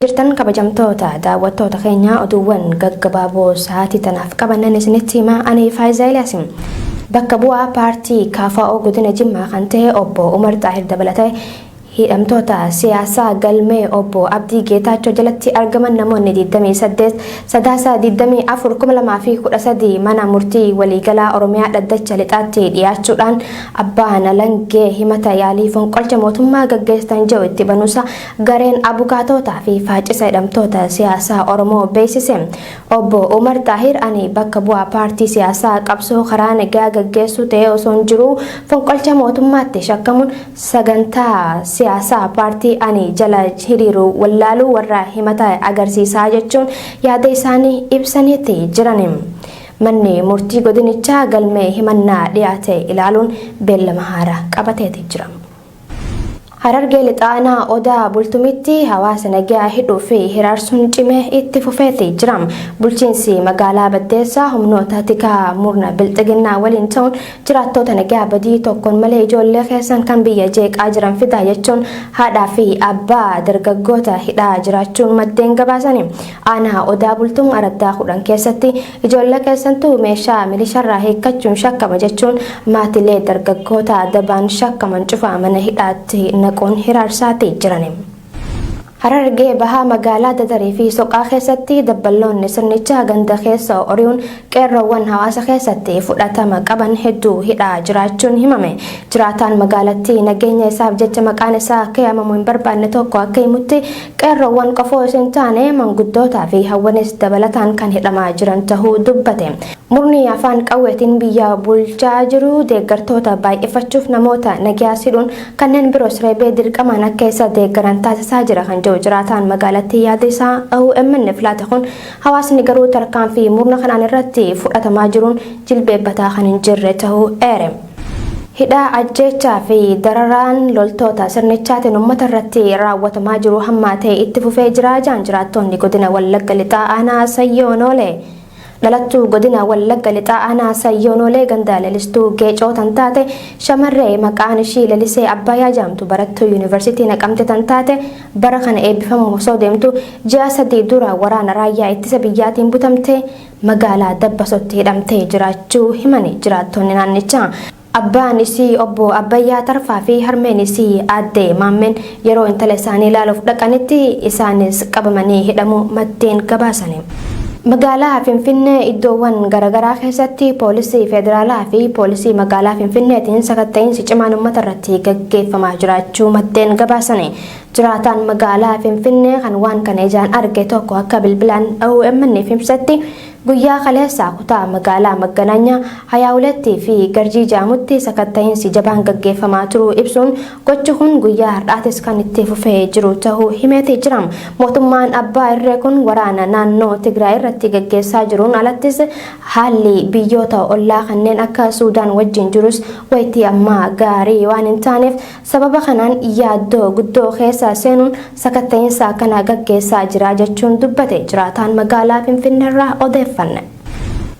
Jirtan kabajamtoota daawwattoota keenyaa oduuwwan gaggabaaboo sa'aatii tanaaf qabannan isinitti himaa ani Faayiza Eliyaasi. Bakka bu'aa paartii KFO godina Jimmaa kan ta'e obbo Umar Xaahir dabalatee hidhamtoota siyaasaa galmee obbo Abdii Geetaachoo jalatti argaman namoonni 28 Sadaasa 24/2013 mana murtii waliigalaa Oromiyaa dhaddacha lixaatti dhiyaachuudhaan abbaan alangee himata yaalii fonqolcha mootummaa gaggeessitan jedhu itti banuusa Gareen Abukaatootaa fi Faaccisa Hidhamtoota Siyaasaa Oromoo beeksise. Obbo Umar Xaahir ani bakka bu'aa paartii siyaasaa qabsoo karaa nagaa gaggeessuu ta'ee osoon jiruu fonqolcha mootummaatti shakkamuun sagantaa siyaasaa paartii ani jala hiriiru wallaaluu warra himata agarsiisaa jechuun yaada isaanii ibsaniiti jiran. Manni murtii godinichaa galmee himannaa dhiyaate ilaaluun beellama haaraa qabateeti jira. Harargee Lixaa Aanaa Odaa Bultumitti hawaasa nagaa hidhuu fi hiraarsuun cimee itti fufeeti jira. Bulchiinsi magaalaa Baddeessaa humnoota tikaa murna bilxiginnaa waliin ta'uun jiraattoota nagaa badii tokkoon malee ijoollee keessan kan biyya jeeqaa jiran fidaa jechuun haadhaa fi abbaa dargaggoota hidhaa jiraachuun maddeen gabaasani. Aanaa Odaa Bultum araddaa 10 keessatti Ijoollee keessantu meeshaa milisharraa hiikkachuun shakkama jechuun maatilee dargaggoota dabaan shakkaman cufa mana hidhaatti naquun hiraarsaati jirani. Harargee Bahaa magaalaa Dadarii fi Soqaa keessatti dabballoonni sirnichaa ganda keessa ori'uun qeerroowwan hawaasa keessatti fudhatama qaban hedduu hidhaa jiraachuun himame. Jiraataan magaalattii nageenya isaaf jecha maqaan isaa akka yaamamu hin barbaanne tokko akka himutti Qeerroowwan qofa osoo hin taane manguddootaa fi hawwanis dabalataan kan hidhamaa jiran tahuu dubbate. Murni afaan qawweetiin biyya bulchaa jiru deeggartoota baay'ifachuuf namoota nagyaas hidhuun kanneen biroos reebee dirqamaan akka isa deeggaran taasisaa jira kan jedhu jiraataan magaalattii yaada isaa OMN'f laate kun hawaasni garuu tarkaanfii murna kanaan irratti fudhatamaa jiruun jilbeebbataa kan hin jirre tahuu eere. Hidhaa, ajjeechaa fi dararaan loltoota sirnichaatiin uummata irratti raawwatamaa jiru hammaatee itti fufee jira jedhan jiraattoonni godina Wallagga Lixaa aanaa Sayyoo Noolee. Dhalattuu godina Wallagga Lixaa aanaa Sayyoo Noolee ganda Lelistuu Geecoo tan taate shamarree maqaan ishii Lelisee Abbaayaa jedhamtu barattuu Yuunivarsiitii Naqamte tan taate bara kana eebbifamuuf osoo deemtu ji'a sadii dura waraana raayyaa ittisa biyyaatiin butamtee magaalaa Dabbasotti hidhamtee jiraachuu himan jiraattonni naannichaa. Abbaan isii obbo Abbayyaa Tarfaa fi harmeen isii aadde Maammeen yeroo intala isaanii ilaaluuf dhaqanitti isaanis qabamanii hidhamuu maddeen gabaasani. Magaalaa Finfinnee iddoowwan garagaraa keessatti poolisii federaalaa fi poolisii magaalaa Finfinneetiin sakatta'iinsi cimaan uummatarratti gaggeeffamaa jiraachuu maddeen gabaasani. Jiraataan magaalaa Finfinnee kan waan kana ijaan arge tokko akka bilbilaan OMN'f ibsetti guyyaa kaleessaa kutaa magaalaa Magganaanyaa, Hayaawulettii fi Garjii jedhamutti sakatta'iinsi jabaan gaggeeffamaa turuu ibsuun gochi kun guyyaa har'aatis kan itti fufee jiru ta'uu himeeti jira. Mootummaan abbaa irree kun waraana naannoo Tigraay irratti gaggeessaa jiruun alattis haalli biyyoota ollaa kanneen akka Suudaan wajjin jirus wayitii ammaa gaarii waan hin taaneef Sababa kanaan yaaddoo guddoo keessa seenuun sakatta'insa akkanaa gaggeessaa jira jechuun dubbate jiraataan magaalaa Finfinneerraa odeeffanne.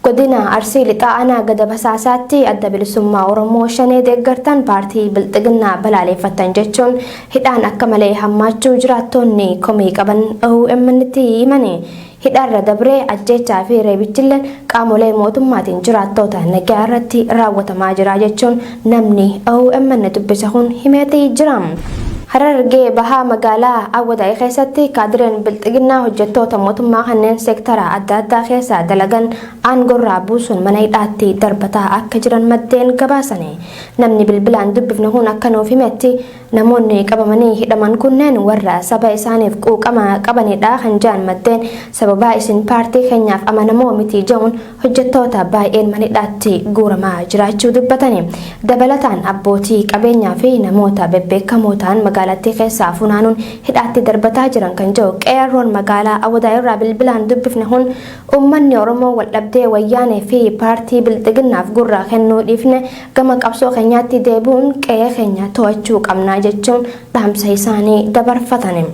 Godina Arsii Lixaa Aanaa Gada Basaasaatti Adda Bilisummaa Oromoo Shanee deeggartan paartii Bilxiginnaa balaaleeffattan jechuun hidhaan akka malee hammaachuu jiraattoonni komii qaban OMNtti himani. Hidhaarra dabree ajjeechaa fi reebichilleen qaamolee mootummaatiin jiraattoota nagaa irratti raawwatamaa jira jechuun namni omn dubbise kun himeeti jira. Harargee bahaa magaalaa Awwadaay keessatti kaadireen bilxiginnaa hojjettoota mootummaa kanneen seektara adda addaa keessaa dalagan aangorraa buusuun mana hidhaatti darbataa akka jiran maddeen gabaasani. Namni bilbilaan dubbifne kun akka nuuf himetti Namoonni qabamanii hidhaman kunneen warra saba isaaniif quuqama qabanidha kan ja'an maddeen, sababaa isin paartii keenyaaf amanamoo miti ja'uun hojjattoota baay'een manidhaatti guuramaa jiraachuu dubbatani. Dabalataan abbootii qabeenyaa fi namoota bebbeekamoo ta'an magaalattii keessaa funaanuun hidhaatti darbataa jiran kan ja'u Qeerroon magaalaa Awwadaay irraa bilbilaan dubbifne kun, uummanni Oromoo waldhabdee Wayyaanee fi paartii Bilxiginnaaf gurra kennuu dhiifne Gama qabsoo keenyaatti deebi'uun qe'ee keenya to'achuu qabna jechuun dhaamsa isaanii dabarfatani.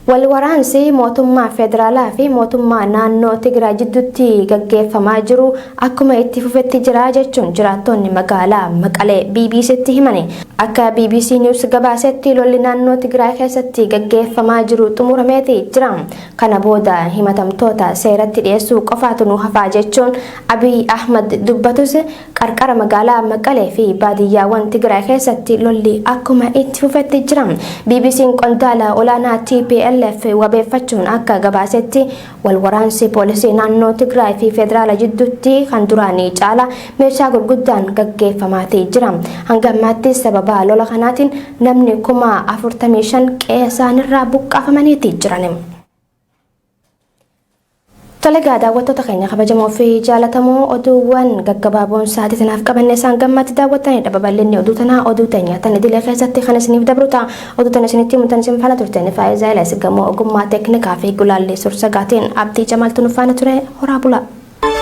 Wal waraansi mootummaa federaalaa fi mootummaa naannoo Tigraay jidduutti gaggeeffamaa jiru akkuma itti fufetti jira jechuun jiraattonni magaalaa Maqalee BBC'tti himani. Akka BBC News gabaasetti lolli naannoo Tigraay keessatti gaggeeffamaa jiru xumurameeti jira. Kana booda himatamtoota seeratti dhiyeessuu qofaatu nu hafaa jechuun Abiy Ahmad dubbatus Qarqara magaalaa Maqalee fi baadiyyaawwan Tigraay keessatti lolli akkuma itti fufetti jira. BBC'n qondaala olaanaa tplf wabeeffachuun akka gabaasetti wal waraansi poolisii naannoo Tigraay fi federaala jidduutti kan duraanii caala meeshaa gurguddaan gaggeeffamaatii jira. Hanga ammaatti sababa lola kanaatiin namni kuma 45 qe'ee isaanirraa buqqaafamaniitii jiran. Tole egaa daawwattoota keenya kabajamoo fi jaalatamoo oduuwwan gaggabaaboon sa'aatii tanaaf qabanne isaan gammatti daawwattanidha. Babal'inni oduu tanaa oduu teenya tan idilee keessatti kan isiniif dabru ta'a. Oduu tan isinitti himu tan isin faana turteen Faayiza Elas gamoo ogummaa teeknikaa fi gulaallii sursagaatiin Abdii Jamaaltu nu faana ture horaa bulaa.